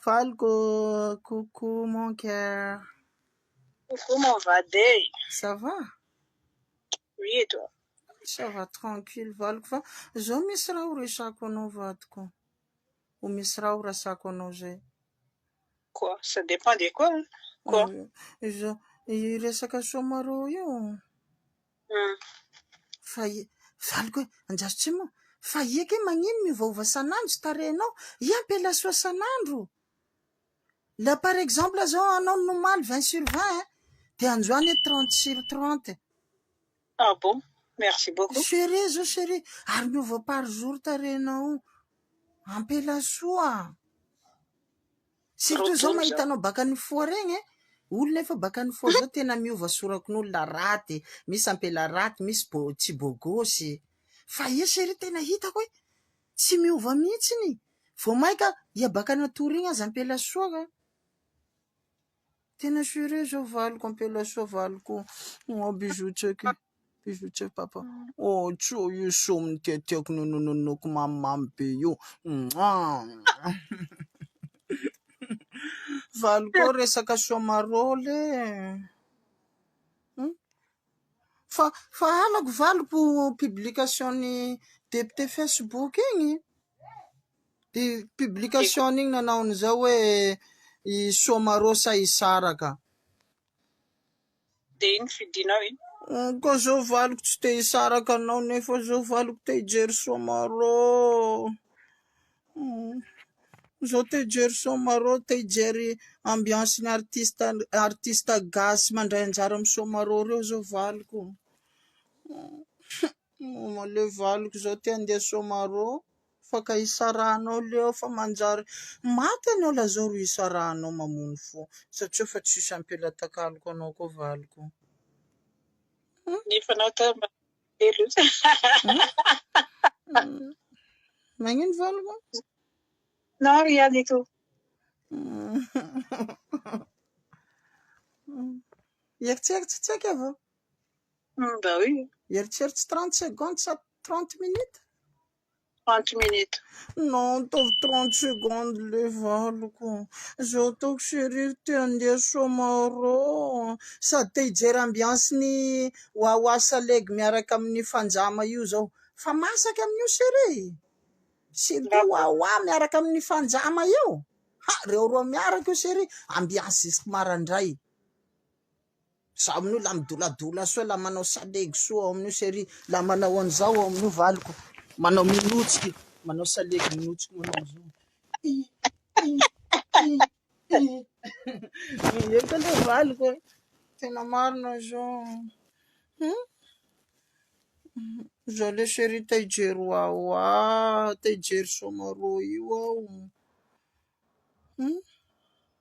Valiko coucou mon coeur. Coucou mon vade. Ça va? Oui et toi? Ça va tranquille valiko fa zao misy raha ho resako anao vadiko. Ho misy raha ho rasako anao zay. Quoi? Ça dépend de quoi? Quoi? Izao resaka Soamaro io. Fa i. Valiko hoe, Anjaritsimo o! Fa i eke magnino miovaova san'andro tsy tarehinao? I ampela soa san'andro! La par exemple zao anao ny omaly vingt sur vingt eh! Dia androany hoe trente sur trente. Ah bon! Merci beaucoup. Chérie zao chérie, ary miova par jour tarehinao io! Ampela soa! Tsy toy izao mahita anao baka ny foa regny e. Olona efa baka ny foa zao tena miova sorakon'olona raty, misy ampela raty, misy bo tsy bôgôsy. Fa iha chérie tena hitako hoe tsy miova mihitsiny. Vao mainka iha baka natory igny aza ampela soa ka. Tena sure zao valiko ampela soa valiko oh bisous check bisous check papa oh tso io somy tiatiako nonononoko mamimamy be io valiko resaka somarole hmm? fa fa halako valiko publication ny député facebook igny publication iny nanao ny zao hoe i Somarosa hisaraka. Dia iny fidinao iny. Mm, ko zao valiko tsy te hisaraka anao nefa zao valiko te hijery Somaro. Mm. Zao te hijery Somaro, te hijery ambiance ny artiste artiste gasy mandray anjara amin'ny Somaro reo zao valiko. Mm. Male valiko zao te handeha Somaro. Afaka isarahanao Leo fa manjary maty ianao lazao ro isarahanao mamono fo satria efa tsisy ampelatankaloko anao koa valiko hum. Ny efa anao teo mba kely io. Magnino valiko? Nao ry ihany ito. Eritseritsy tsy aika vao? Mba oui. Eritseritsy 30 secondes sa 30 minutes? 30 minutes. Non ataovy trente secondes le valoko zao ataoko chérie ry te handeha Soamaro sady te hijery ambiance ny Wawa Salegy miaraka amin'ny Fanjama io zao fa masaka amin'io chérie e! surtout Wawa miaraka amin'ny Fanjama io ha! reo roa miaraka io chérie ambiance jusque marandray. Za amin'io la midoladola soa la manao salegy soa ao amin'io chéri la manao an'izao ao amin'io valiko manao minotsiky manao salegy minotsiky manao an'izao i i i i eto le valiko tena marina izao hmm? izao le chéri te hijery ho aho a te hijery soamarô io aho hmm?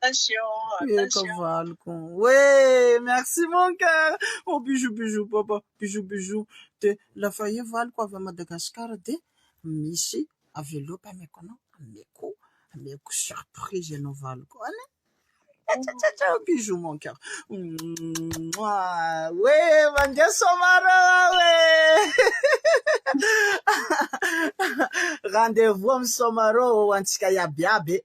Eka valiko hoe merci mon coeur oh bisous bisous papa bisous bisous de la faille valiko avy à Madagascar de misy enveloppe ameko anao ameko ameko surprise anao valiko any ah bisous mon coeur hoe mandeha somary aho e rendez-vous amin'ny somary ho antsika iaby iaby e.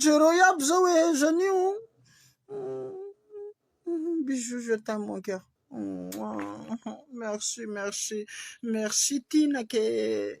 Jereo iaby zao e Jeanny o. Bisous je t'aime mon cœur. Merci merci merci Tina ke.